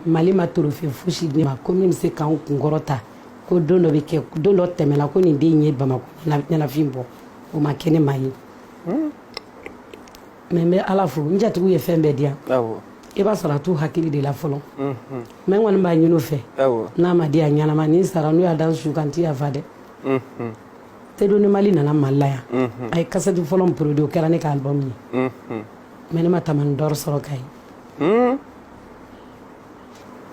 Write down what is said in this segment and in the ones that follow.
mali ma trophée fosi di n ma ko min bɛ se ka n kunkɔrɔta ko don dɔ bɛ kɛ don dɔ tɛmɛna ko nin den ye bamakɔ ɲɛnafin bɔ o ma kɛ ne ma ye hmm. mais n bɛ ala fo n jatigiw ye fɛn bɛɛ di yan i b'a sɔrɔ a t'u hakili de la fɔlɔ hmm, hmm. mais n kɔni b'a ɲini u fɛ n'a ma di a ɲɛnama ni n sara n'u y'a da n su kan n tɛ yafa dɛ seydoni mali nana mali la yan a ye kasɛti fɔlɔ min produit o kɛra ne ka album ye mais ne ma tamani d'or sɔrɔ ka ye Hmm?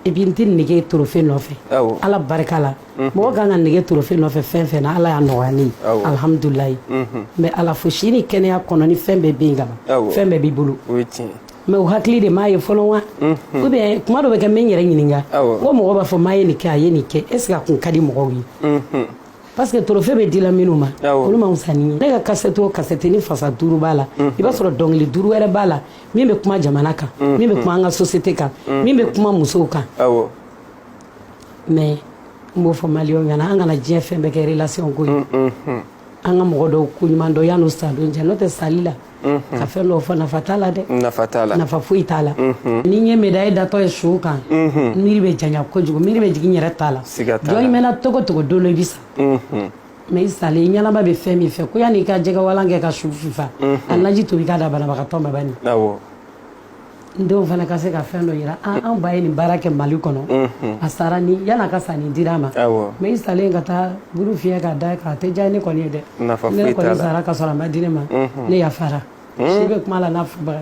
et puis n tɛ nege trophée nɔfɛ ala barika la hmm. mɔgɔ ka kan ka nege trophée nɔfɛ fɛn fɛn na ala y'a nɔgɔya ne ye alihamidulayi n hmm. bɛ ala fo si ni kɛnɛya kɔnɔ ni fɛn bɛɛ bɛ yen ka ban fɛn bɛɛ b'i bolo mais u hakili de m'a ye fɔlɔ wa ou bien kuma dɔ bɛ kɛ n bɛ n yɛrɛ ɲininka ko mɔgɔ b'a fɔ maa ye nin kɛ a ye nin kɛ est-ce que a kun ka di mɔgɔw ye parce que trophée bɛ dila minnu ma olu ma wusa ni n ye ne ka kasɛti o kasɛti ni fasa duuru b'a la i b'a sɔrɔ dɔnkili duuru wɛrɛ b'a la min bɛ kuma jamana kan min bɛ kuma an ka société kan min bɛ kuma musow kan mais n b'o fɔ maliyɛnw ɲɛna an kana diɲɛ fɛn bɛɛ kɛ relation ko ye an ka mɔgɔ dɔw ko ɲuman dɔn yan'u sa don cɛ n'o tɛ sali la ka fɛn dɔw fɔ nafa t'a la dɛ nafa foyi t'a la ni n ye médaille datɔ ye su kan miiri bɛ janya kojugu miiri bɛ jigin n yɛrɛ t'a la jɔn i mɛnna cogo cogo don dɔ i bɛ sa mais i salen i ɲɛnama bɛ fɛn min fɛ ko yanni i ka jɛgɛwalan kɛ ka su fifa a naji tobi k'a da banabagatɔ ma bani awɔ n denw fana ka se ka fɛn dɔ yira an an ba ye nin baara kɛ mali kɔnɔ a sara ni yan'a ka sa nin dira a ma awɔ mais i salen ka taa buru fiyɛ k'a da i kan a tɛ diya ne kɔni ye dɛ nafa foyi t'a la ne kɔni sara ka sɔrɔ a ma di ne ma ne yafara si bɛ kuma la n'a fɔbaga